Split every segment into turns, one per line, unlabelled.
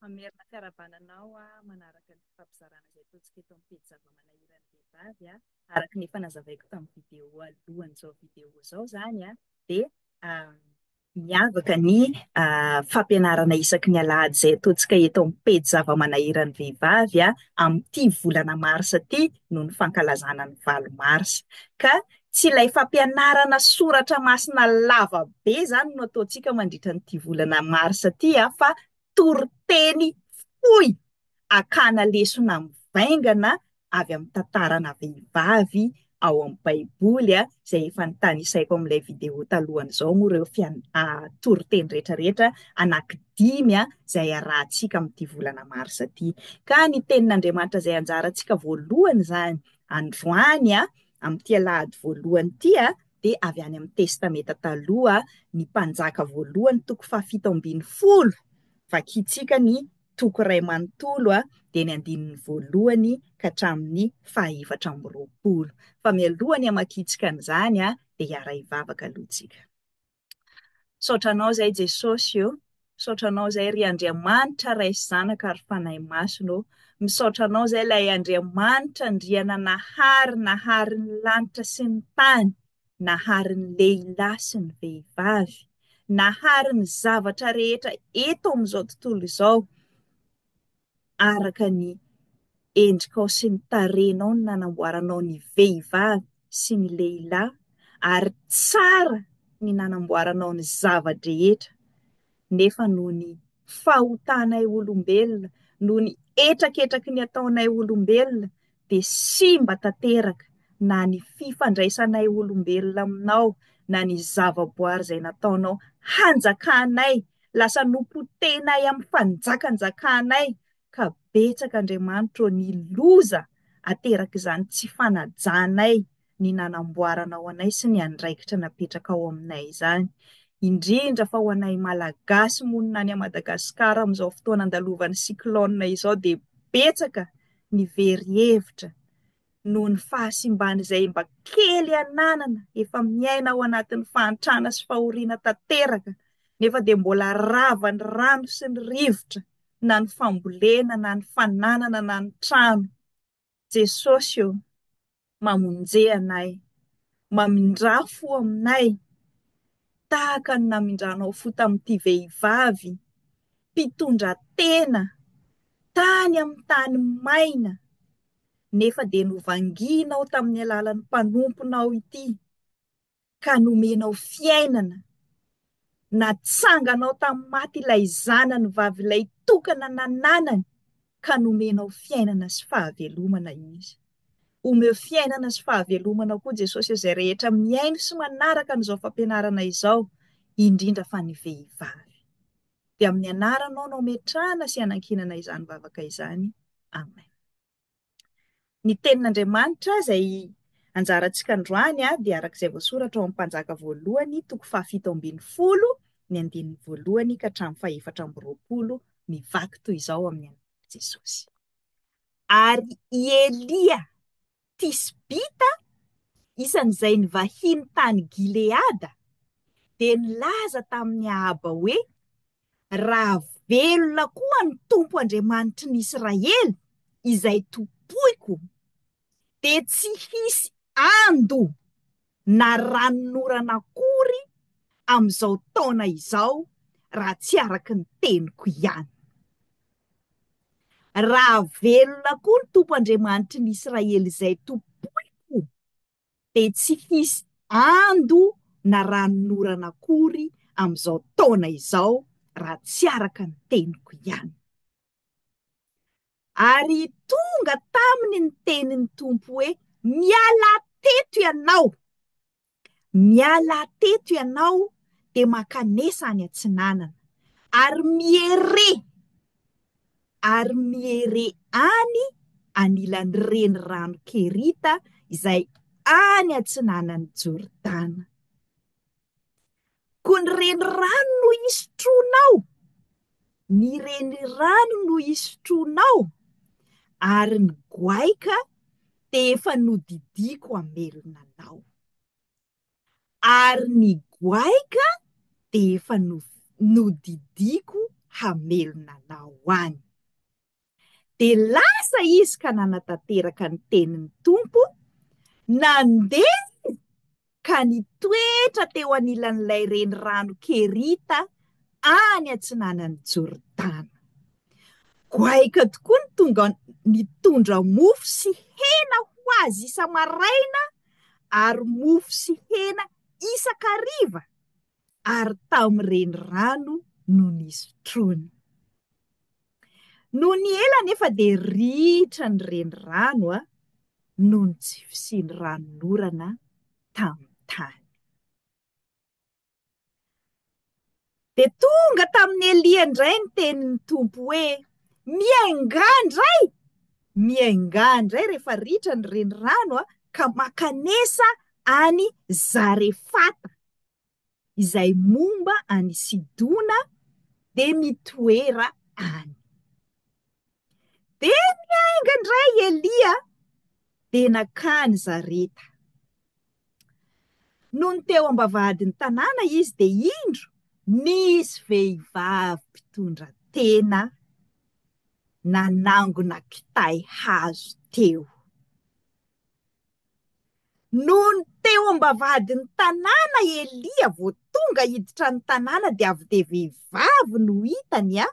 Hamerina fiarahabana anao aho manaraka ny fifampizarana izay ataontsika eto amin'ny pejy Zava-manahiran'ny Vehivavy a. Araka ny efa nazavaiko tamin'ny video alohan'izao video izao izany dia miavaka ny fampianarana isaky ny alahady izay ataontsika eto amin'ny pejy Zava-manahiran'ny Vehivavy amin'ity volana marsa ity noho ny fankalazana ny valo marsa. Ka tsy ilay fampianarana soratra masina lava be izany no ataontsika mandritra an'ity volana marsa ity an, fa toriteny fohy akana lesona mivaingana avy amin'ny tantarana vehivavy ao amin'ny baiboly an, izay efa notanisaiko amin'ilay video talohan'izao moa ireo fian- ah, toriteny rehetrarehetra anankidimy an, izay arahantsika amin'ity volana marsa ity. Ka ny tenin'Andriamanitra izay anjarantsika voalohany izany androany an, Amin'ity alahady voalohany ity dia avy any amin'ny Testamenta Taloha ny Mpanjaka voalohany toko fahafito ambin'ny folo. Vakintsika ny toko iray manontolo dia ny andininy voalohany ka hatramin'ny fahaefatra amby roapolo. Fa mialoha ny hamakiantsika an'izany dia hiara-hivavaka aloha isika. Misaotra anao izay Jesosy ô, misaotra anao izay ry Andriamanitra Ray sy Zanaka ary Fanahy Masina ô, misaotra anao izay ilay Andriamanitra Andriana nahary nahary ny lanitra sy ny tany, nahary ny lehilahy sy ny vehivavy, nahary ny zavatra rehetra eto amin'izao tontolo izao, araka ny endrikao sy ny tarehinao no nanamboaranao ny vehivavy sy ny lehilahy ary tsara ny nanamboaranao ny zava-drehetra nefa noho ny fahotanay olombelona, noho ny hetraketraky ny ataonay olombelona, dia simba tanteraka na ny fifandraisanay olombelona aminao na ny zavaboary izay nataonao hanjakanay, lasa nopotehinay amin'ny fanjakanjakanay, ka betsaka Andriamanitro ô ny loza aterak'izany tsy fanajanay ny nanamboarana ho anay sy ny andraikitra napetrakao aminay izany, indrindra fa ho anay Malagasy monina any Madagascar amin'izao fotoana andalovan'ny cyclone izao dia betsaka ny very hevitra noho ny fahasimban'izay mba kely ananana efa miaina ao anatin'ny fahantrana sy fahoriana tanteraka nefa dia mbola rava ny rano sy ny rivotra na ny fambolena na ny fananana na ny trano Jesosy ô, mamonje anay, mamindrà fo aminay, tahaka ny namindranao fo tamin'ity vehivavy mpitondra tena tany amin'ny tany maina, nefa dia novangianao tamin'ny alalan'ny mpanomponao ity, ka nomenao fiainana, natsanganao tamin'ny maty ilay Zanany Vavilay tokana nananany, ka nomenao fiainana sy fahavelomana Izy. Omeo fiainana sy fahavelomana koa Jesosy izay rehetra mihaino sy manaraka an'izao fampianarana izao, indrindra fa ny vehivavy. Dia amin'ny anaranao no ametrahana sy anankinana izany vavaka izany. Amen. Ny Tenin'Andriamanitra izay anjarantsika androany dia araka izay voasoratra ao amin'ny Mpanjaka voalohany toko fahafito ambin'ny folo ny andininy voalohany ka hatramin'ny fahefatra amby roapolo mivaky toy izao amin'ny anaran'i Jesosy. Ary i Elia Tisbita, isan'izay nivahiny tany Gileada, dia nilaza tamin'i Ahaba hoe, Raha velona koa ny Tompo Andriamanitry ny Israely, izay tompoiko, dia tsy hisy ando na ranonorana akory amin'izao taona izao raha tsy araka ny teniko ihany. Raha velona koa ny Tompo Andriamanitry ny Israely izay tompoiko, dia tsy hisy ando na ranon'orana akory amin'izao taona izao raha tsy araka ny teniko ihany. Ary tonga taminy ny tenin'ny Tompo hoe, Mialà teto ianao! Mialà teto ianao dia mankanesa any atsinanana, ary miere ary mihere any anilan'ny renirano Kerita izay any atsinanan'i Jordana. Koa ny renirano no hisotroanao, ny renirano no hisotroanao, ary ny goaika dia efa nodidiako hamelona anao. ary ny goaika dia efa nodidiako hamelona anao any. Dia lasa izy ka nanatanteraka ny tenin'ny Tompo, nandeha izy ka nitoetra teo anilan'ilay renirano Kerita any atsinanan'i Jordana. Goaika tokoa ny tonga mitondra mofo sy hena ho azy isa-maraina ary mofo sy hena isan-kariva ary tamin'ny renirano no nisotroany. Nony ela anefa dia ritra ny renirano noho ny tsy fisian'ny ranon'orana tamin'ny tany. Dia tonga tamin'i Elia indray ny tenin'ny Tompo hoe, Miaingà indray! Miaingà indray rehefa ritra ny renirano ka mankanesa any Zarefata, izay momba an'i Sidona, dia mitoera any. Dia niainga indray i Elia, dia nankany Zareta. Nony teo am-bavahadin'ny tanàna izy dia indro nisy vehivavy mpitondra tena nanangona kitay hazo teo. Nony teo am-bavahadin'ny tanàna i Elia vao tonga hiditra ny tanàna dia avy dia vehivavy no hitany an!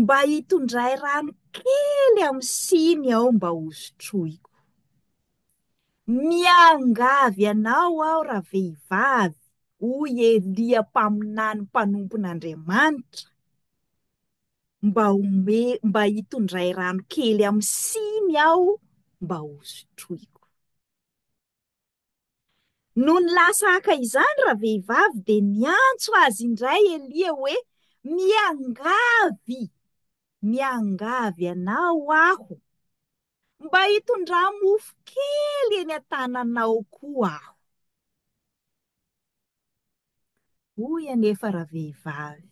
Mba hitondray rano kely amin'ny siny aho mba hosotroiko. Miangavy anao aho ravehivavy, hoy Elia mpaminany mpanompon'Andriamanitra, mba homey, mba hitondray rano kely amin'ny siny aho mba hosotroiko. Nony lasa haka izany ravehivavy dia niantso azy indray Elia hoe, Miangavy! Miangavy anao aho! Mba hitondrà-mofo kely eny an-tananao koa aho! Hoy anefa ravehivavy,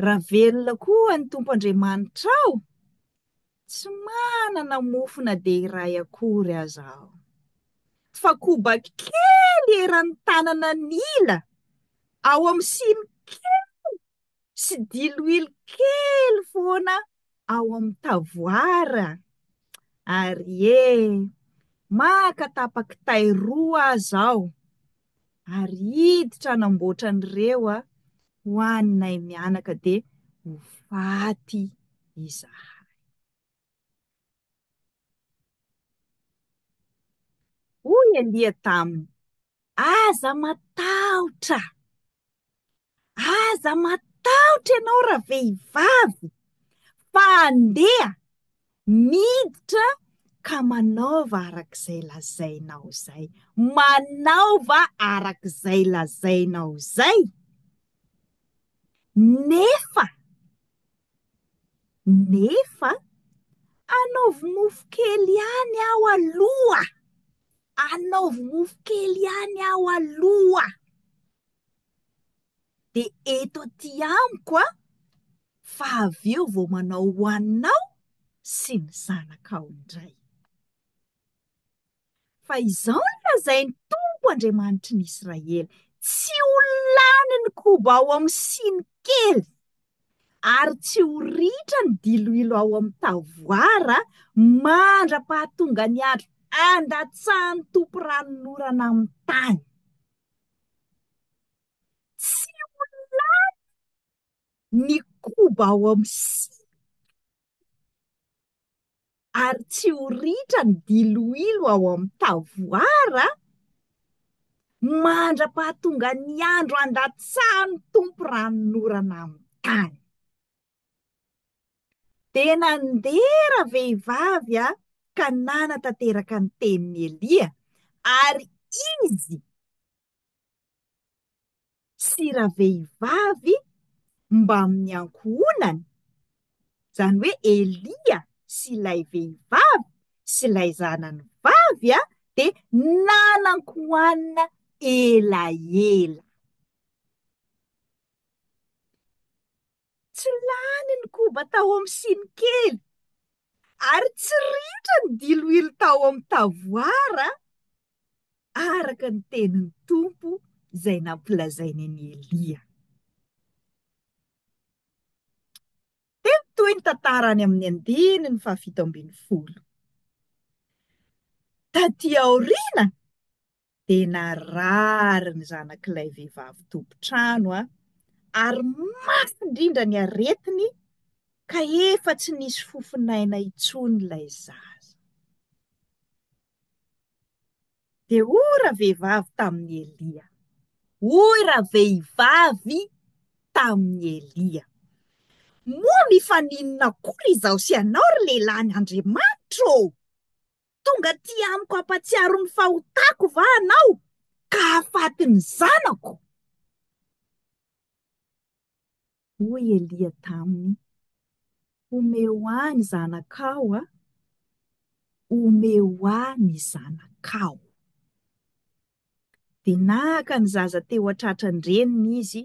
Raha velona koa ny Tompo Andriamanitrao, tsy manana mofo na dia iray akory aza aho, fa koba kely eran'ny tanana ny ila, ao amin'ny siny kely sy diloilo kely foana ao amin'ny tavoara. Ary ee, maka tapa-kitay roa aza aho, ary hiditra hanamboatra an'ireo Aho ho anay mianaka dia ho faty izahay. Hoy Elia taminy, Aza matahotra! Aza matahotra ianao ravehivavy fa andeha miditra ka manaova araka izay lazainao izay. Manaova araka izay lazainao izay nefa nefa anaovy mofo kely ihany aho aloha, anaovy mofo kely ihany aho aloha. dia eto aty amiko aho fa avy eo vao manao ho anao sy ny zanakao indray. Fa izao no lazain'ny Tompo Andriamanitry ny Israely, tsy ho lany ny koba ao amin'ny siny kely, ary tsy ho ritra ny diloilo ao amin'ny tavoara mandra-pahatonga ny andro andatsahan'ny Tompo ranonorana amin'ny tany. Tsy ho lany ny koba ao amin'ny siny ary tsy ho ritra ny diloilo ao amin'ny tavoara an! mandra-pahatongan'ny andro handatsahan'ny Tompo ranonorana amin'ny tany. Dia nandeha ravehivavy a ka nanatanteraka ny tenin'i Elia, ary izy sy ravehivavy mbamin'ny ankohonany, izany hoe Elia sy ilay vehivavy sy ilay zanany vavy a, dia nanan-kohanina elaela. Tsy lany ny koba tao amin'ny siny kely, ary tsy ritra ny diloilo tao amin'ny tavoara, araka ny tenin'ny Tompo izay nampilazainy an'i Elia. Dia mitohy ny tantara any amin'ny andininy fahafito ambin'ny folo. Taty aoriana, dia narary ny zanak'ilay vehivavy tompon-trano ary mafy indrindra ny aretiny ka efa tsy nisy fofon'aina intsony ilay zaza. Dia hoy ravehivavy tamin'i Elia. Hoy ravehivavy tamin'i Elia. Moa mifaninona akory izaho sy ianao ry lehilahin'Andriamanitra ô! Tonga aty amiko hampatsiaro ny fahotako va anao ka hahafaty ny zanako? Hoy Elia taminy, Omeo ahy ny zanakao a! Omeo ahy ny zanakao! Dia naka ny zaza teo an-tratran-dreniny izy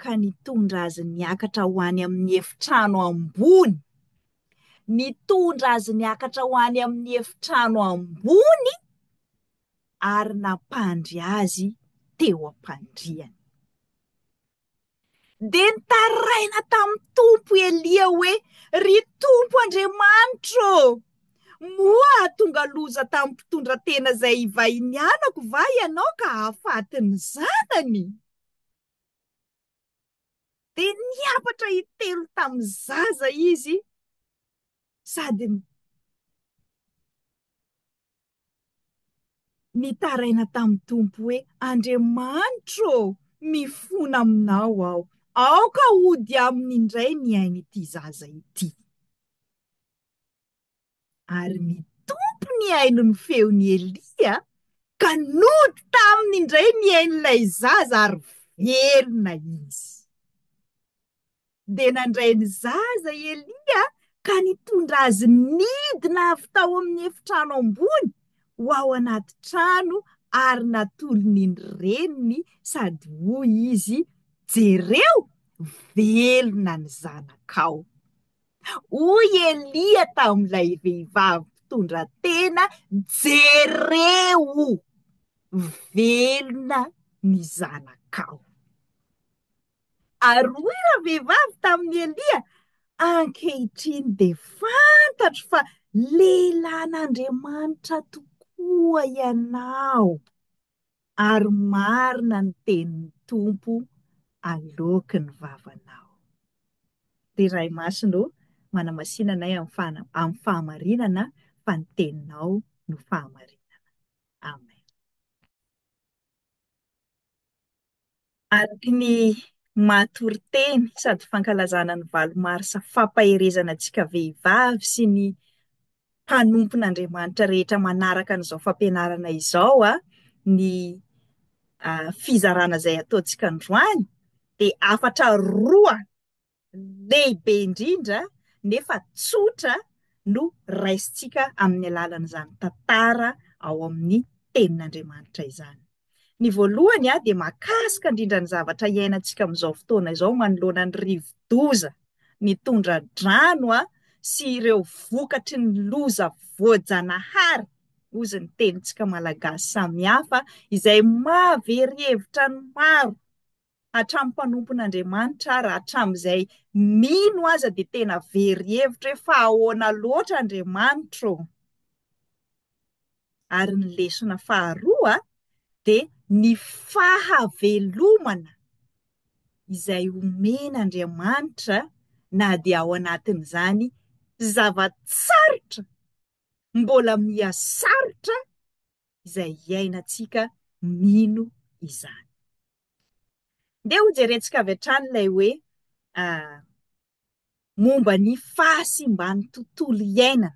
ka nitondra azy niakatra ho any amin'ny efitrano ambony. Nitondra azy niakatra ho any amin'ny efitrano ambony ary nampandry azy teo am-pandriany. Dia nitaraina tamin'ny Tompo i Elia hoe, Ry Tompo Andriamanitro ô! Moa hahatonga loza tamin'ny mpitondra tena izay ivahinianako va Ianao ka hahafaty ny zanany? Dia niapatra hitelo tamin'ny zaza izy sady nitaraina tamin'ny Tompo hoe, Andriamanitro ô, mifona aminao aho, aoka hody aminy indray ny ain'ity zaza ity. Ary nitompo ny aino ny feon'i Elia, ka nody taminy indray ny ain'ilay zaza ary velona izy. Dia nandray ny zaza i Elia ka nitondra azy nidina avy tao amin'ny efitrano ambony ho ao anaty trano ary natolony ny reniny sady hoy izy, Jereo, velona ny zanakao. Hoy Elia tamin'ilay vehivavy mpitondra tena, Jereo, velona ny zanakao. Aroy ravehivavy tamin'i Elia, ankehitriny dia fantatro fa lehilahin'Andriamanitra tokoa ianao, ary marina ny tenin'ny Tompo aloaky ny vavanao. Ry Ray Masina ô, manamasina anay amin'ny fahamarinana fa ny teninao no fahamarinana. Amen. Araka ny maha toriteny sady fankalazana ny valo marsa fampaherezana antsika vehivavy sy ny mpanompon'Andriamanitra rehetra manaraka an'izao fampianarana izao ny fizarana izay ataontsika androany dia hafatra roa lehibe indrindra nefa tsotra no raisintsika amin'ny alalan'izany tantara ao amin'ny Tenin'Andriamanitra izany. Ny voalohany dia mahakasika indrindra ny zavatra iainantsika amin'izao fotoana izao manoloana ny rivodoza, ny tondra-drano sy ireo vokatry ny loza voajanahary, hozy ny tenintsika malagasy samihafa izay mahavery hevitra ny maro. hatramin'ny mpanompon'Andriamanitra ary hatramin'izay mino aza dia tena very hevitra hoe fa ahoana loatra Andriamanitra ô? Ary ny lesona faharoa dia ny fahavelomana izay omen'Andriamanitra na dia ao anatin'izany zava-tsarotra mbola miha sarotra izay iainantsika mino izany. Ndeha hojerentsika avy hatrany ilay hoe momba ny fahasimban'ny tontolo iainana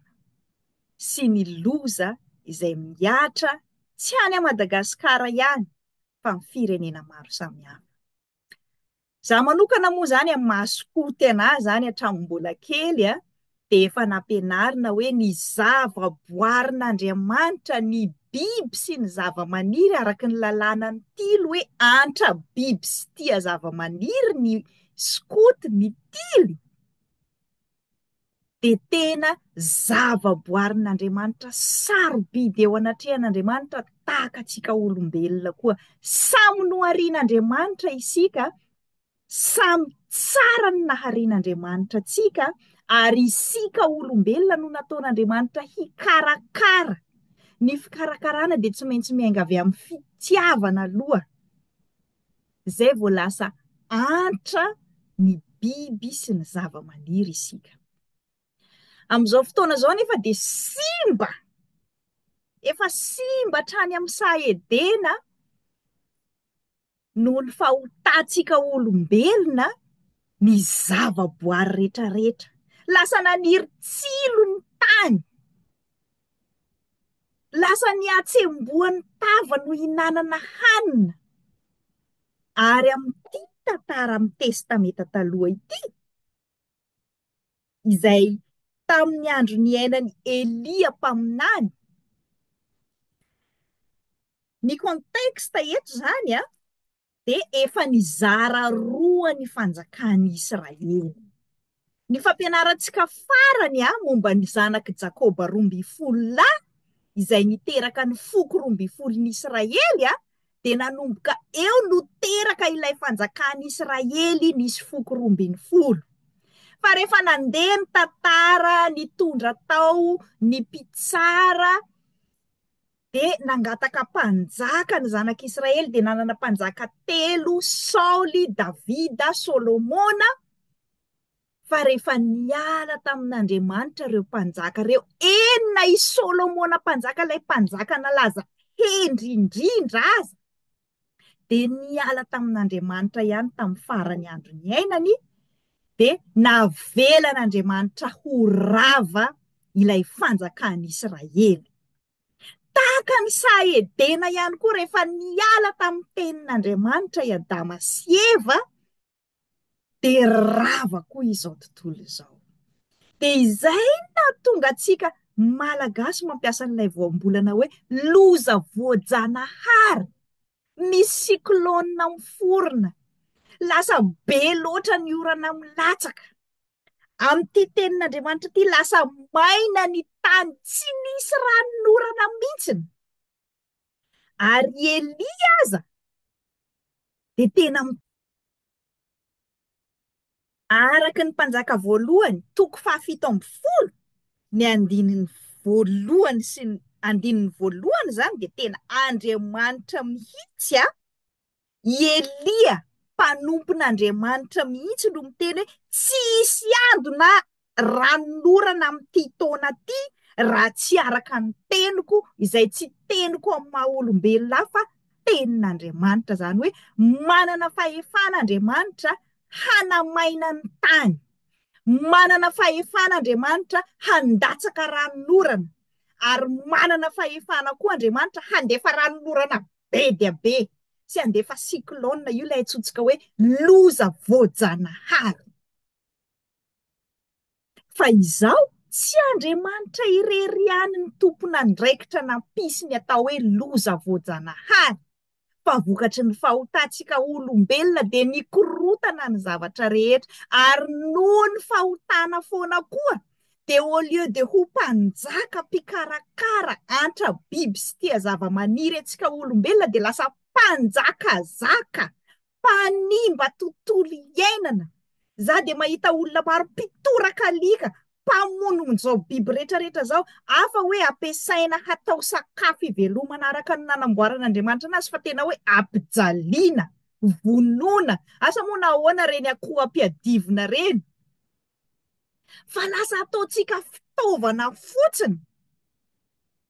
sy ny loza izay mihatra tsy any Madagasikara ihany fa amin'ny firenena maro samihafa. Za manokana moa zany amin'ny maha skout anah zany hatramin'ny mbola kely dia efa nampianarina hoe ny zavaboarin'Andriamanitra, ny biby sy ny zavamaniry araka ny lalànan'ny tily hoe antra biby sy tia zavamaniry ny skoto, ny tily dia tena zavaboarin'Andriamanitra sarobidy eo anatrehan'Andriamanitra tahaka antsika olombelona koa. Samy noharian'Andriamanitra isika. Samy tsara ny naharian'Andriamanitra antsika, ary isika olombelona no nataon'Andriamanitra hikarakara. Ny fikarakarana dia tsy maintsy miainga avy amin'ny fitiavana aloha, izay vao lasa antra ny biby sy ny zava-maniry isika. Amin'izao fotoana izao nefa dia simba, efa simba hatrany amin'ny saha Edena Noho ny fahotantsika olombelona, ny zavaboary rehetrarehetra lasa naniry tsilo ny tany. Lasa nihatsembohan'ny tavany ho hinanana hanina. Ary amin'ity tantara amin'ny Testameta Taloha ity, izay tamin'ny andro niainan'i Elia mpaminany. Ny contexte eto izany an, dia efa nizara roa ny fanjakan'i Israely. Ny fampianarantsika farany an, momba ny zanak'i Jakoba roa ambin'ny folo lahy izay niteraka ny foko roa ambin'ny folon'i Israely an, dia nanomboka eo no teraka ilay fanjakan'i Israely nisy foko roa ambin'ny folo. Fa rehefa nandeha ny tantara nitondra tao ny mpitsara dia nangataka mpanjaka ny zanak'Israely dia nanana mpanjaka telo Saoly, Davida, Solomona. fa rehefa niala tamin'Andriamanitra ireo mpanjaka ireo, eny na i Solomona mpanjaka ilay mpanjaka nalaza hendry indrindra aza, dia niala tamin'Andriamanitra ihany tamin'ny farany andro niainany, dia navelan'Andriamanitra ho rava ilay fanjakan'i Israely. Tahaka ny saha Edena ihany koa rehefa niala tamin'ny tenin'Andriamanitra i Adama sy Eva, dia rava koa izao tontolo izao. Dia izay nahatonga antsika Malagasy mampiasa an'ilay voambolana hoe loza voajanahary, misy cyclone miforona, lasa be loatra ny orana milatsaka. Amin'ity tenin'Andriamanitra ity, lasa maina ny tany, tsy nisy ranon'orana mihitsy. Ary i Elia aza dia tena mi-. Araka ny Mpanjaka Voalohany, toko fahafito ambin'ny folo, ny andininy voalohany sy ny andininy voalohany izany dia tena Andriamanitra mihitsy a! I Elia mpanompon'Andriamanitra mihitsy no miteny hoe tsy hisy ady na ranonorana amin'ity taona ity raha tsy araka ny teniko izay tsy teniko amin'ny maha olombelona hafa tenin'Andriamanitra. Izany hoe manana fahefana Andriamanitra hanamaina ny tany, manana fahefana Andriamanitra handatsaka ranonorana ary manana fahefana koa Andriamanitra handefa ranonorana be dia be tsy handefa cyclone io ilay antsointsika hoe loza voajanahary. Fa izao, tsy Andriamanitra irery ihany ny tompon'andraikitra nampisy ny atao hoe loza voajanahary, fa vokatry ny fahotantsika olombelona dia nikorontana ny zavatra rehetra, ary noho ny fahotana foana koa, Dia au lieu de ho mpanjaka mpikarakara antra biby sy tia zava-maniry antsika olombelona dia lasa mpanjakazaka, mpanimba tontolo iainana. Za dia mahita olona maro mpitoraka alika, mpamono izao biby rehetra rehetra izao, hafa hoe ampiasaina hatao sakafo hivelomana araka ny nanamboaran'Andriamanitra anazy fa tena hoe ampijaliana, vonoina. Asa moa nahoana ireny akoho ampiadivina ireny? fa lasa ataontsika fitaovana fotsiny,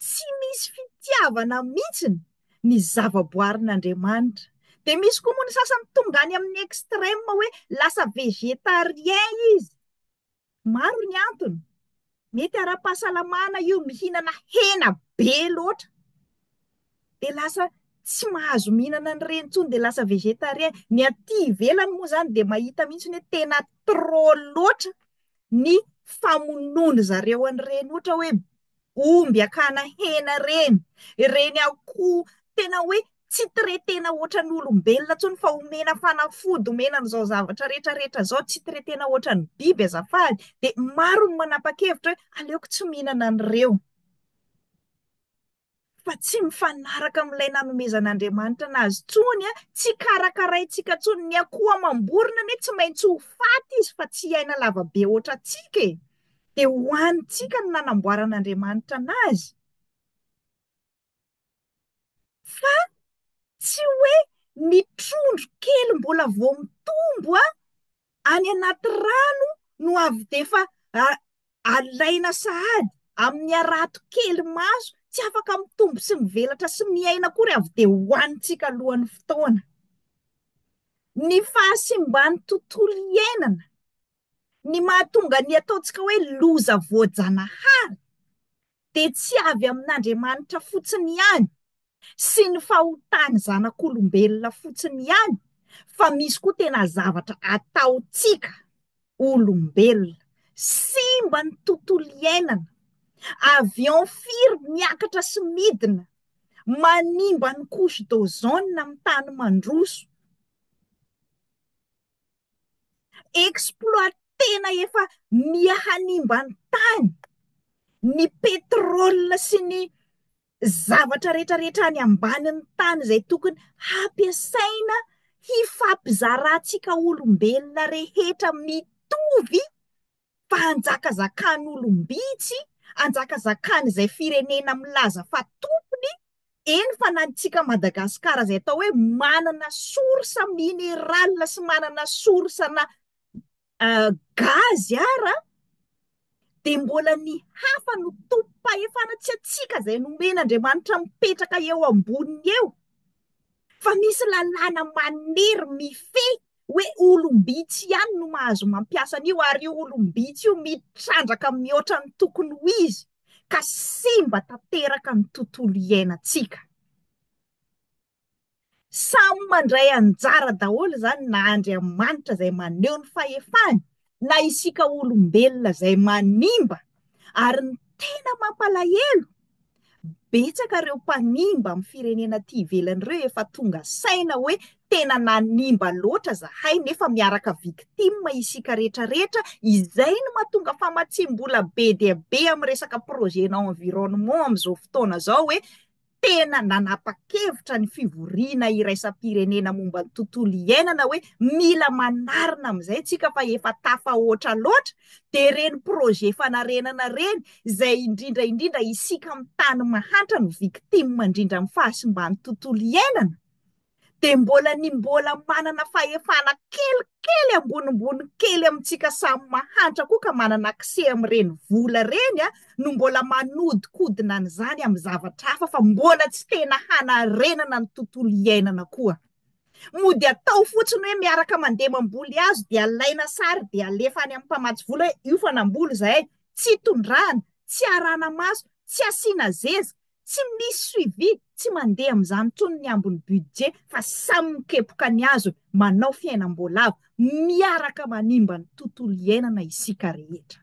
tsy misy fitiavana mihitsiny ny zavaboarin'Andriamanitra. Dia misy koa moa ny sasany tonga any amin'ny extreme hoe lasa végétarien izy. Maro ny antony. Mety ara-pahasalamana io mihinana hena be loatra, dia lasa tsy mahazo mihinana an'ireny intsony, dia lasa végétarien. Ny aty ivelany moa izany dia mahita mihitsy hoe tena trop loatra ny famonoan-dry zareo an'ireny ohatra hoe omby akana hena ireny, ireny akoho tena hoe. tsy traitena ohatran'ny olombelona intsony fa omena fanafody omena an'izao zavatra rehetra rehetra izao tsy traitena ohatran'ny biby azafady dia maro ny manapa-kevitra hoe aleoko tsy mihinana an'ireo fa tsy mifanaraka amin'ilay nanomezan'Andriamanitra anazy intsony a tsy karakaraintsika intsony ny akoho amam-borona anie tsy maintsy ho faty izy fa tsy hiaina lavabe ohatra antsika e dia ho hanintsika no nanamboaran'Andriamanitra anazy Fa tsy hoe ny trondro kely mbola vao mitombo any anaty rano no avy dia efa alaina sahady amin'ny harato kely maso tsy afaka mitombo sy mivelatra sy miaina akory avy dia hohanintsika alohan'ny fotoana. Ny fahasimban'ny tontolo iainana, ny mahatonga ny ataontsika hoe loza voajanahary dia tsy avy amin'Andriamanitra fotsiny ihany sy ny fahotan'ny zanak'olombelona fotsiny ihany fa misy koa tena zavatra ataontsika olombelona, simba ny tontolo iainana, avion firy miakatra sy midina, manimba ny couche d'ozone amin'ny tany mandroso. exploit tena efa miha hanimba ny tany ny petrole sy ny zavatra rehetra rehetra any ambanin'ny tany izay tokony hampiasaina hifampizarantsika olombelona rehetra mitovy fa hanjakazakan'olom-bitsy, hanjakazakan'izay firenena milaza fa tompony, eny fa na antsika Madagasikara izay atao hoe manana source mineral sy manana source ana gaz ara dia mbola ny hafa no tompom-pahefana, tsy antsika izay nomen'Andriamanitra mipetraka eo amboniny eo fa misy lalàna manery mifehy. hoe olom-bitsy ihany no mahazo mampiasa an'io ary io olom-bitsy io mitrandraka mihoatra ny tokony ho izy ka simba tanteraka ny tontolo iainantsika. Samy mandray anjara daholo izany na Andriamanitra izay maneho ny fahefany na isika olombelona izay manimba ary ny tena mampalahelo betsaka ireo mpanimba amin'ny firenena aty ivelany ireo efa tonga saina hoe tena nanimba loatra zahay nefa miaraka victime isika retraretra izay no matonga famatsiam-bola be dia be amin'ny resaka projet na environnement amin'izao fotoana izao hoe tena nanapa-kevitra ny fivoriana iraisam-pirenena momba ny tontolo iainana hoe mila manarina amin'izay isika fa efa tafahoatra loatra, dia ireny projet fanarenana ireny izay indrindra indrindra isika amin'ny tany mahantra no victime indrindra amin'ny fahasimban'ny tontolo iainana. dia mbola ny mbola manana fahefana kelikely ambonimbony kely amintsika samy mahantra koa ka manana accès amin'ireny vola ireny no mbola manodinkodina an'izany amin'ny zavatra hafa fa mbola tsy tena hanarenana ny tontolo iainana koa. Mody atao fotsiny hoe miaraka mandeha mamboly hazo dia alaina sary dia alefa any amin'ny mpamatsy vola hoe io fa namboly izahay, tsy tondrahana, tsy arahana maso, tsy asiana zeza, Tsy misy suivi, tsy mandeha amin'izany intsony ny ambin'ny budget fa samy mikepoka ny azony, manao fiainam-boalavo, miaraka manimba ny tontolo iainana isika rehetra.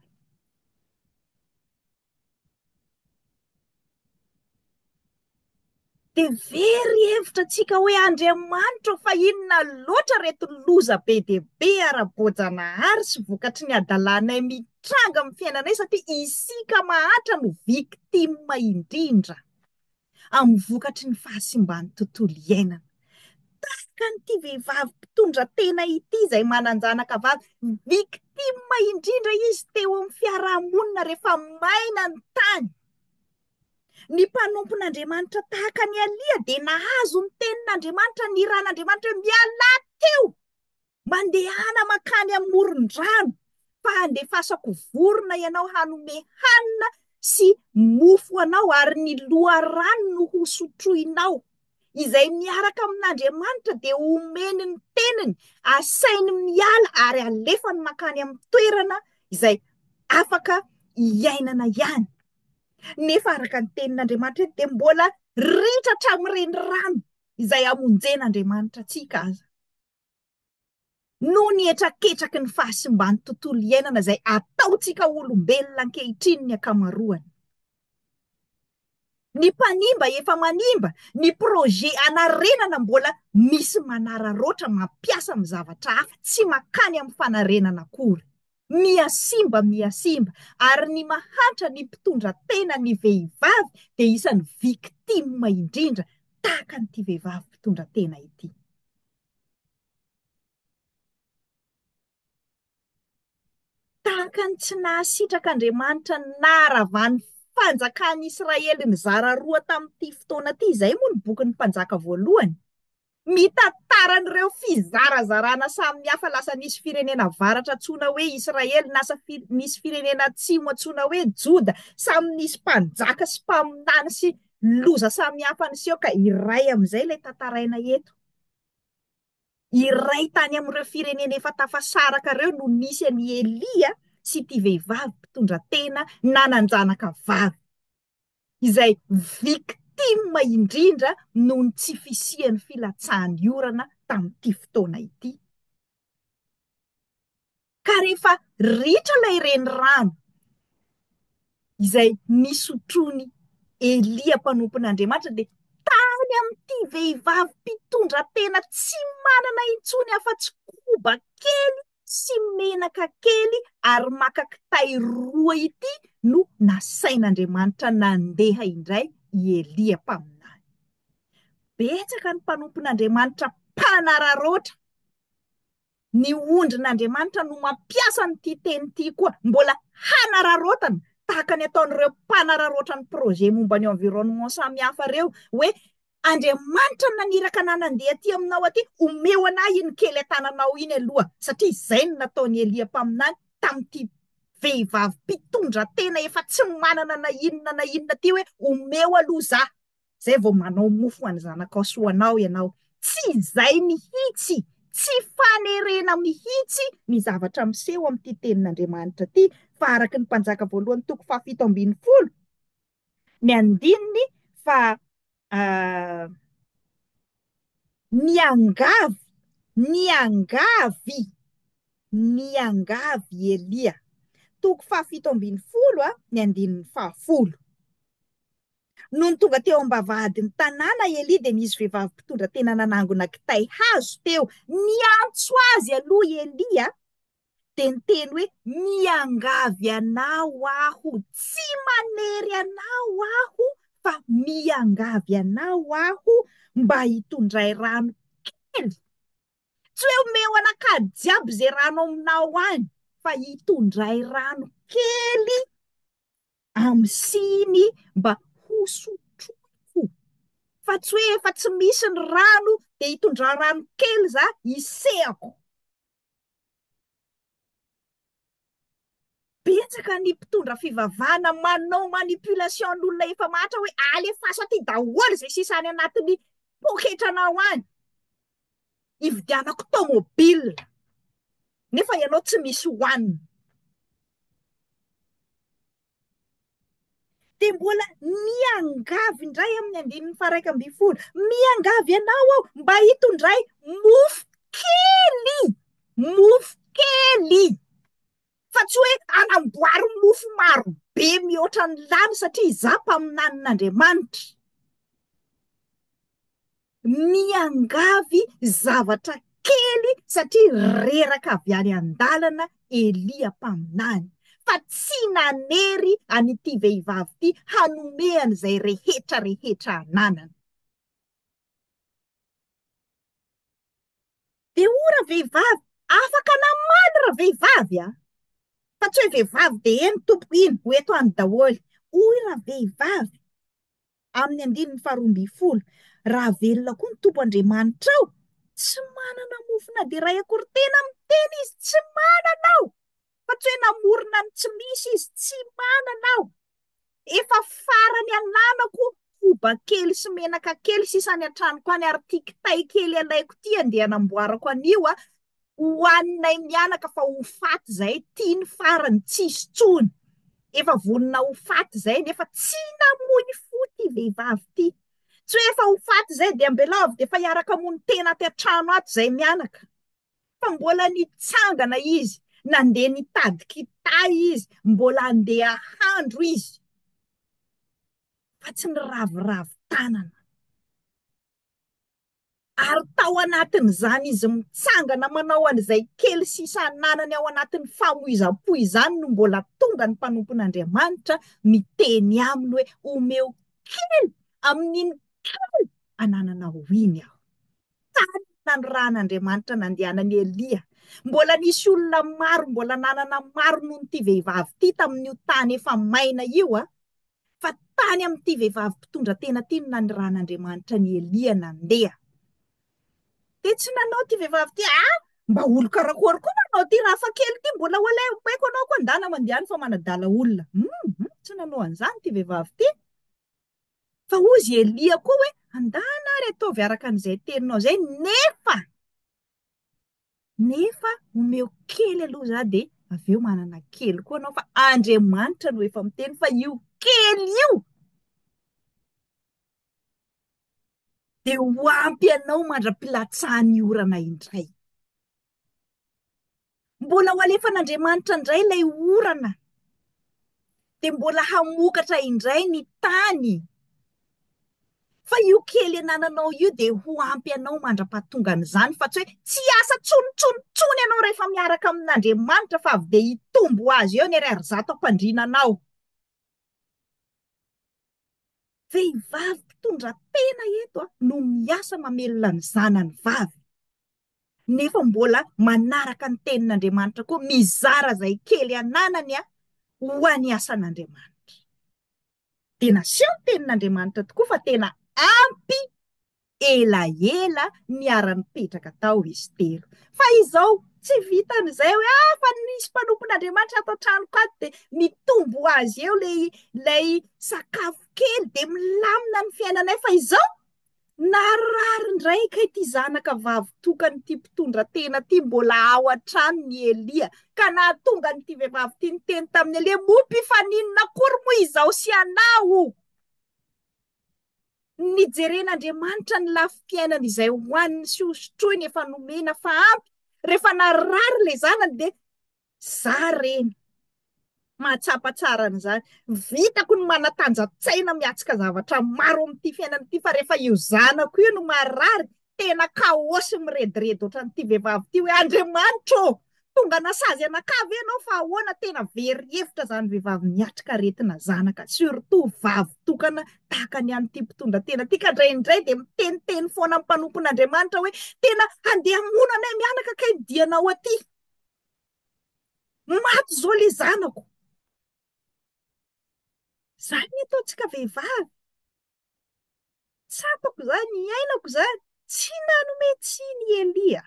Dia very hevitra antsika hoe Andriamanitra ô fa inona loatra ireto loza be dia be ara-boajanahary sy vokatry ny hadalanay mihitsy tranga amin'ny fiainanay satria isika mahantra no victime indrindra amin'ny vokatry ny fahasimban'ny tontolo iainana. Tahaka an'ity vehivavy mpitondra tena ity izay manan-janaka vavy, victime indrindra izy teo amin'ny fiarahamonina rehefa maina ny tany. Ny mpanompon'Andriamanitra tahaka an'i Alia dia nahazo ny tenin'Andriamanitra, ny ran'Andriamanitra hoe mialà teo Mandehana mankany amin'ny moron-drano, fa handefasako vorona ianao hanome hanina sy mofo anao, ary ny loharano no hosotroinao. Izay miaraka amin'Andriamanitra dia homeny ny teniny, asainy miala ary alefany mankany amin'ny toerana izay afaka hiainana ihany. Nefa araka ny tenin'Andriamanitra eto dia mbola ritra hatramin'ny renirano izay hamonjen'Andriamanitra antsika aza. noho ny hetraketraky ny fahasimban'ny tontolo iainana izay ataontsika olombelona ankehitriny ny ankamaroany. Ny mpanimba efa manimba, ny projet hanarenana mbola misy manararaotra mampiasa amin'ny zavatra hafa, tsy mankany amin'ny fanarenana akory. Miha simba miha simba. Ary ny mahantra ny mpitondra tena ny vehivavy dia isan'ny victime indrindra tahaka an'ity vehivavy mpitondra tena ity. Tahaka ny tsy nahasitraka Andriamanitra ny naharavan'ny fanjakan'Israely nizara roa tamin'ity fotoana ity izay moa ny bokin'ny Mpanjaka voalohany. Mitantara an'ireo fizarazarana samihafa lasa nisy firenena avaratra antsoina hoe Israely, nasa nisy firenena atsimo antsoina hoe Joda, samy nisy mpanjaka sy mpaminany sy loza samihafa niseho ka iray amin'izay ilay tantaraina eto. Iray tany amin'ireo firenena efa tafasaraka ireo no nisy an'i Elia sy ity vehivavy mpitondratena nanan-janaka vavy. izay victime indrindra noho ny tsy fisian'ny filatsahan'ny orana tamin'ity fotoana ity. Ka rehefa ritra ilay renirano izay nisotroan'i Elia mpanompon'Andriamanitra dia tany amin'ity vehivavy mpitondratena tsy manana intsony afa-tsy koba kely sy menaka kely ary maka kitay roa ity no nasain'Andriamanitra nandeha indray i Elia mpaminany. Betsaka ny mpanompon'Andriamanitra mpanararaotra ny ondrin'Andriamanitra no mampiasa an'ity teny ity koa mbola hanararaotana tahaka ny ataon'ireo mpanararaotra ny projet momba ny environnement samihafa ireo hoe Andriamanitra naniraka anah nandeha aty aminao aty, omeo anah iny kely an-tananao iny aloha, satria izay no nataon'i Elia mpaminany tamin'ity vehivavy mpitondra tena efa tsy manana na inona na inona ity hoe, omeo aloha za, izay vao manao mofo ho an'ny zanakao sy ho anao ianao. Tsy izay mihitsy, tsy fanerena mihitsy ny zavatra miseho amin'ity tenin'Andriamanitra ity, fa araka ny Mpanjaka voalohany toko fahafito ambin'ny folo, ny andininy fa niangavy, niangavy, niangavy i Elia. Toko fahafito ambin'ny folo a, ny andininy fahafolo. Nony tonga teo am-bavahadin'ny tanàna i Elia dia nisy vehivavy mpitondra tena nanangona kitay hazo teo. Niantso azy aloha i Elia dia niteny hoe miangavy anao aho, tsy manery anao aho fa miangavy anao aho mba hitondray rano kely. Tsy hoe omeo anakady jiaby izay rano ao aminao any fa hitondray rano kely amin'ny siny mba hosotroiko. Fa tsy hoe efa tsy misy ny rano dia hitondra rano kely za hisehako. Betsaka ny mpitondra fivavahana manao manipulation ny olona efa mahantra hoe alefaso aty daholo izay sisa any anatin'ny poketranao any, hividianako tomobile, nefa ianao tsy misy hohanina. Dia mbola miangavy indray amin'ny andininy faharaika ambin'ny folo, miangavy anao aho mba hitondray mofo kely, mofo kely, fa tsy hoe anamboaro mofo maro be mihoatra ny lany satria izaho mpaminanin'Andriamanitra. Miangavy zavatra kely satria reraka avy any an-dalana Elia mpaminany, fa tsy nanery an'ity vehivavy ity hanome an'izay rehetra rehetra ananany. Dia o ravehivavy, afaka namaly ravehivavy a! Fa tsy hoe vehivavy dia eny tompoko iny, ho eto any daholo. Hoy ravehivavy, amin'ny andininy faharoa ambin'ny folo, Raha velona koa ny Tompo Andriamanitrao, tsy manana mofo na dia iray akory Tena miteny Izy, Tsy manana aho, fa tsy hoe namorona ny tsy misy Izy, Tsy manana aho, efa farany ananako koba kely sy menaka kely sisa any an-tranoko any, ary ity kitay kely alaiko ity andeha hanamboarako anio, ho haninay mianaka fa ho faty zay ty ny farany tsisy tsony efa vonona ho faty zay nefa tsy namoy fo ty vehivavy ty tsy hoe efa ho faty zay de ambelao avy de efa hiaraka hamono tena aty an-trano ato zay mianaka fa mbola nitsangana izy nandeha nitady kitay izy mbola andeha handro izy fa tsy niraviravy tanana Ary tao anatin'izany izy mitsangana manao an'izay kely sisa ananany ao anatin'ny famoizam-po izany no mbola tonga ny mpanompon'Andriamanitra miteny aminy hoe, omeo kely amin'iny kely anananao iny aho. Tany nanirahan'Andriamanitra nandehanan'i Elia, mbola nisy olona maro, mbola nanana maro noho ity vehivavy ity tamin'io tany efa maina io. fa tany amin'ity vehivavy mpitondra tena ity no nanirahan'Andriamanitra an'i Elia nandeha. Dia tsy nanao ity vehivavy ity, ah, mba olo karakory koa manao ity raha fa kely ity mbola wala omeko anao koa ndana mandehany fa manadala olona. Hum, hum, tsy nanao an'izany ity vehivavy ity. Fa hoy izy Elia koa hoe, andana ary ataovy araka an'izay teninao izay, nefa nefa omeo kely aloha za dia avy eo manana kely koa anao fa Andriamanitra no efa miteny fa io kely io dia ho ampy anao mandra-pilatsahan'ny orana indray. Mbola ho alefan'Andriamanitra indray ilay orana dia mbola hamokatra indray ny tany fa io kely anananao io dia ho ampy anao mandra-pahatongan'izany fa tsy hoe tsy asa tsonontsonontsony ianao rehefa miaraka amin'Andriamanitra fa avy dia hitombo azy eo ny ariary zato ampandriana anao. Vehivavy mpitondra tena eto no miasa mamelona ny zanany vavy. nefa mbola manaraka ny tenin'Andriamanitra koa, mizara izay kely ananany ho an'ny asan'Andriamanitra. Dia naseho ny tenin'Andriamanitra tokoa fa tena ampy elaela niara-nipetraka tao izy telo. Fa izao tsy vitan'izay hoe ah fa nisy mpanompon'Andriamanitra ato an-tranoko ato dia mitombo ho azy eo ilay ilay sakafo kely dia milamina ny fiainanay fa izao Naharary indray kay ity zanaka vavy tokan'ity mpitondra tena ity mbola ao an-trano ny Elia ka nahatonga an'ity vehivavy ity niteny tamin'i Elia, moa mpifaninona akory moa izaho sy anao? Nijeren'Andriamanitra ny lafim-piainana izay hohaniny sy hosotroiny efa nomena fa ampy, rehefa narary ilay zanany dia Za reny. Mahatsapa tsara an'izany. Vitako ny manatanja-tsaina miatsika zavatra maro amin'ity fiainana ity fa rehefa io zanako io no marary, tena kaosy mirediredy ohatran'ity vehivavy ity hoe Andriamanitra ô! Tonga nasazy anakah ve ianao fa ahoana? Tena very hevitra izany vehivavy miatrika aretina zanaka, surtout vavy tokana tahaka ny an'ity mpitondra tena ity, ka indraindray dia miteniteny foana amin'ny mpanompon'Andriamanitra hoe tena handeha hamono anay mianaka kay ny dianao aty. Maty zao le zanako. Zany ny ataontsika vehivavy. Tsapako zany, iainako zany. Tsy nanome tsiny i Elia.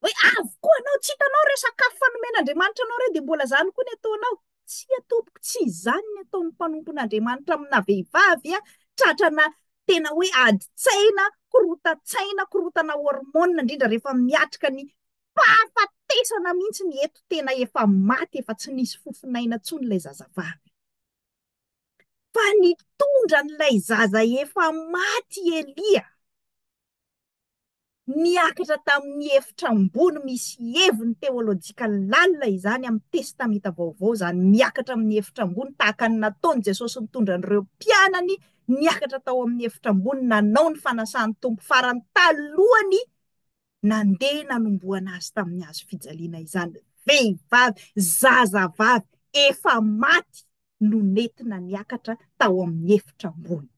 Hoe avy koa anao, tsy hitanao re sakafo fa nomen'Andriamanitra anao re dia mbola zany koa ny ataonao. Tsia tompoko, tsy izany ny ataon'ny mpanompon'Andriamanitra amina vehivavy a, tratrana tena hoe adin-tsaina, korontan-tsaina, korotana hormone indrindra rehefa miatrika ny fahafatesana mihitsy ny eto, tena efa maty, efa tsy nisy fofon'aina intsony ilay zazavavy. Fa nitondra an'ilay zaza efa maty i Elia. Niakatra tamin'ny efitra ambony misy heviny teolojika lalina izany amin'ny Testamenta Vaovao izany miakatra amin'ny efitra ambony tahaka ny nataon'i Jesosy nitondra an'ireo mpianany niakatra tao amin'ny efitra ambony nanao ny fanasan'ny Tompo farany talohan'ny nandeha nanombohana azy tamin'ny hazo fijaliana izany vehivavy zazavavy efa maty no nentina niakatra tao amin'ny efitra ambony.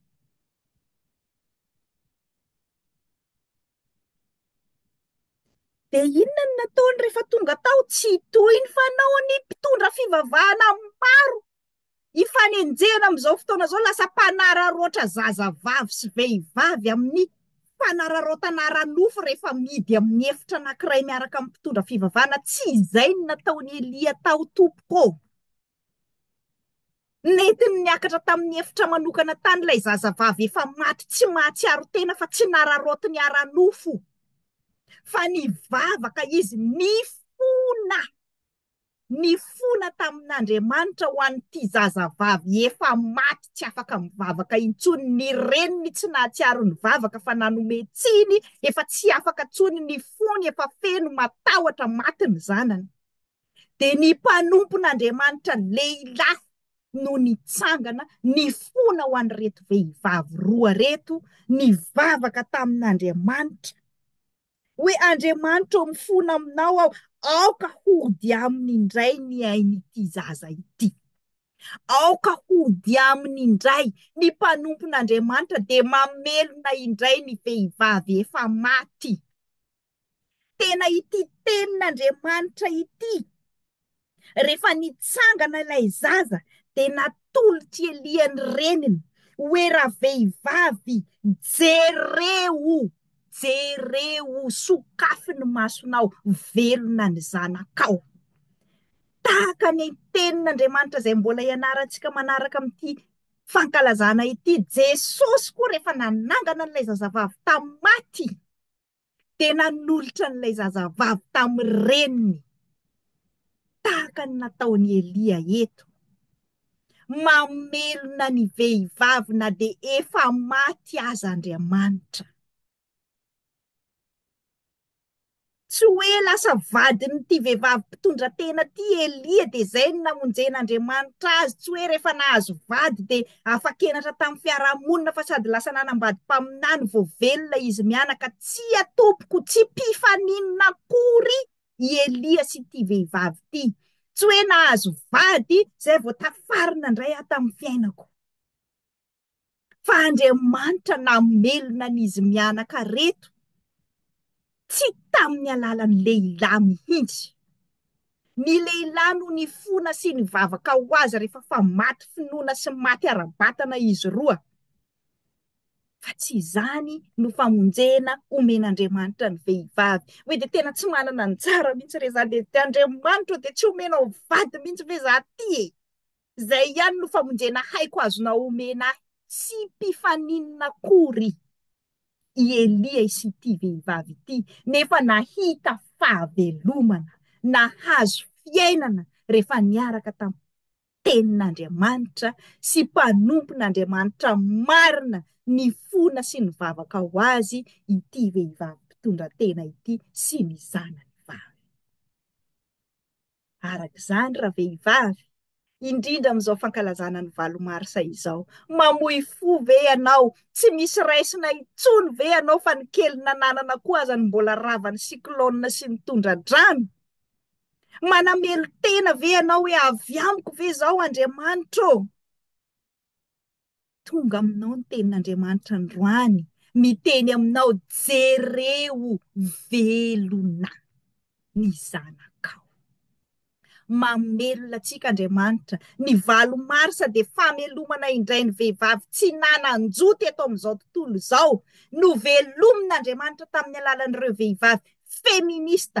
Dia inona no nataony rehefa tonga tao? Tsy toy ny fanaon'ny mpitondra fivavahana maro ifanenjehana amin'izao fotoana izao, lasa mpanararaotra zazavavy sy vehivavy amin'ny fanararaotana ara-nofo rehefa amidy amin'ny efitra anankiray miaraka amin'ny mpitondra fivavahana. Tsy izay no nataon'i Elia tao, tompoko ô. Nentiny niakatra tamin'ny efitra manokana tany ilay zazavavy efa maty tsy mahatsiaro tena fa tsy nararaotiny ara-nofo fa nivavaka izy, nifona, nifona tamin'Andriamanitra ho an'ity zazavavy efa maty tsy afaka mivavaka intsony, ny reniny tsy nahatsiaro nivavaka fa nanome tsiny, efa tsy afaka intsony, nifona, efa feno, matahotra, maty ny zanany. dia ny mpanompon'Andriamanitra lehilahy no nitsangana nifona ho an'ireto vehivavy roa ireto, nivavaka tamin'Andriamanitra hoe, Andriamanitra ô, mifona aminao aho, aoka hody aminy indray ny ain'ity zaza ity. Aoka hody aminy indray ny mpanompon'Andriamanitra dia mamelona indray ny vehivavy efa maty. Tena ity tenin'Andriamanitra ity. Rehefa nitsangana ilay zaza dia natolotr'i Elia ny reniny hoe ravehivavy jereo, jereo, sokafy ny masonao, velona ny zanakao. Tahaka ny tenin'Andriamanitra izay mbola ianarantsika manaraka amin'ity fankalazana ity, Jesosy koa rehefa nanangana an'ilay zazavavy tamin'ny maty, dia nanolotra an'ilay zazavavy tamin'ny reniny, tahaka ny nataon'i Elia eto. Mamelona ny vehivavy na dia efa maty aza Andriamanitra. Tsy hoe lasa vadin'ity vehivavy mpitondra tena ity Elia dia izay no namonjen'Andriamanitra azy, tsy hoe rehefa nahazo vady dia Afa-kenatra tamin'ny fiaraha-monina fa sady lasa nanambady mpaminany vao velona izy mianaka. Tsia tompoko, tsy mpifaninona akory i Elia sy ity vehivavy ity. Tsy hoe nahazo vady izay vao tafarina indray aho tamin'ny fiainako. Fa Andriamanitra namelona an'izy mianaka reto. Tsy tamin'ny alalan'ny lehilahy mihitsy. Ny lehilahy no nifona sy nivavaka ho azy rehefa fa maty finoana sy maty ara-batana izy roa, fa tsy izany no famonjena omen'Andriamanitra ny vehivavy. Hoe dia tena tsy manana anjara mihitsy re izany, dia Andriamanitra dia tsy omenao vady mihitsy ve izaho ity e? Izay ihany no famonjena haiko azonao omena ahy, tsy mpifaninona akory i Elia sy ity vehivavy ity, nefa nahita fahavelomana, nahazo fiainana rehefa niaraka tamin'ny Tenin'Andriamanitra sy mpanompon'Andriamanitra marina nifona sy nivavaka ho azy ity vehivavy mpitondratena ity sy ny zanany vavy. Araka izany, ravehivavy, indrindra amin'izao fankalazana ny valo marsa izao, mamoy fo ve ianao, tsy misy raisina intsony ve ianao fa ny kely nananana koa aza no mbola ravan'ny cyclone sy ny tondra-drano? Manamelo-tena ve ianao hoe avy amiko ve izao Andriamanitra ô? Tonga aminao ny tenin'Andriamanitra androany, miteny aminao, jereo velona ny zanakao. Mamelona antsika Andriamanitra, ny valo marsa dia famelomana indray ny vehivavy tsy nanan-jo teto amin'izao tontolo izao, novelomin'Andriamanitra tamin'ny alalan'ireo vehivavy feminista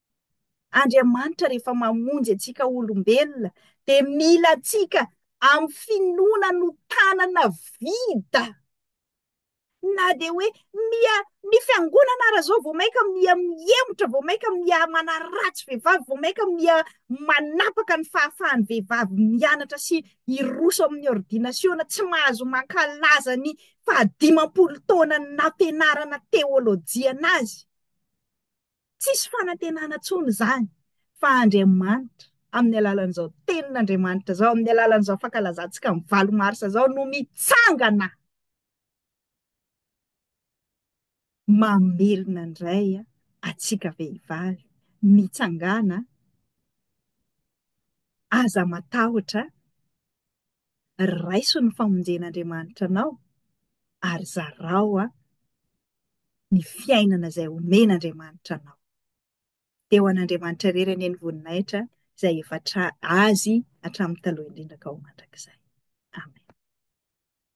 Andriamanitra rehefa mamonjy antsika olombelona dia mila antsika amin'ny finoana no tanana vida na dia hoe miha ny fiangonana ara zao vao mainka miha mihemotra vao mainka miha manaratsy vehivavy vao mainka miha manapaka ny fahafahan'ny vehivavy mianatra sy hiroso amin'ny ordinasiona tsy mahazo mankalaza ny fahadimampolo taona ny nampianarana teolojiana azy Tsisy fanantenana intsony izany fa Andriamanitra amin'ny alalan'izao tenin'Andriamanitra izao, amin'ny alalan'izao fankalazantsika ny valo marsa izao no mitsangana mamelona indray antsika vehivavy, mitsangana aza matahotra, raiso ny famonjen'Andriamanitra anao ary zarao. ny fiainana izay omen'Andriamanitra anao. Dia ho an'Andriamanitra irery anie ny voninahitra izay efa tra- Azy hatramin'ny taloha indrindra ka ho mandrakizay. Amen.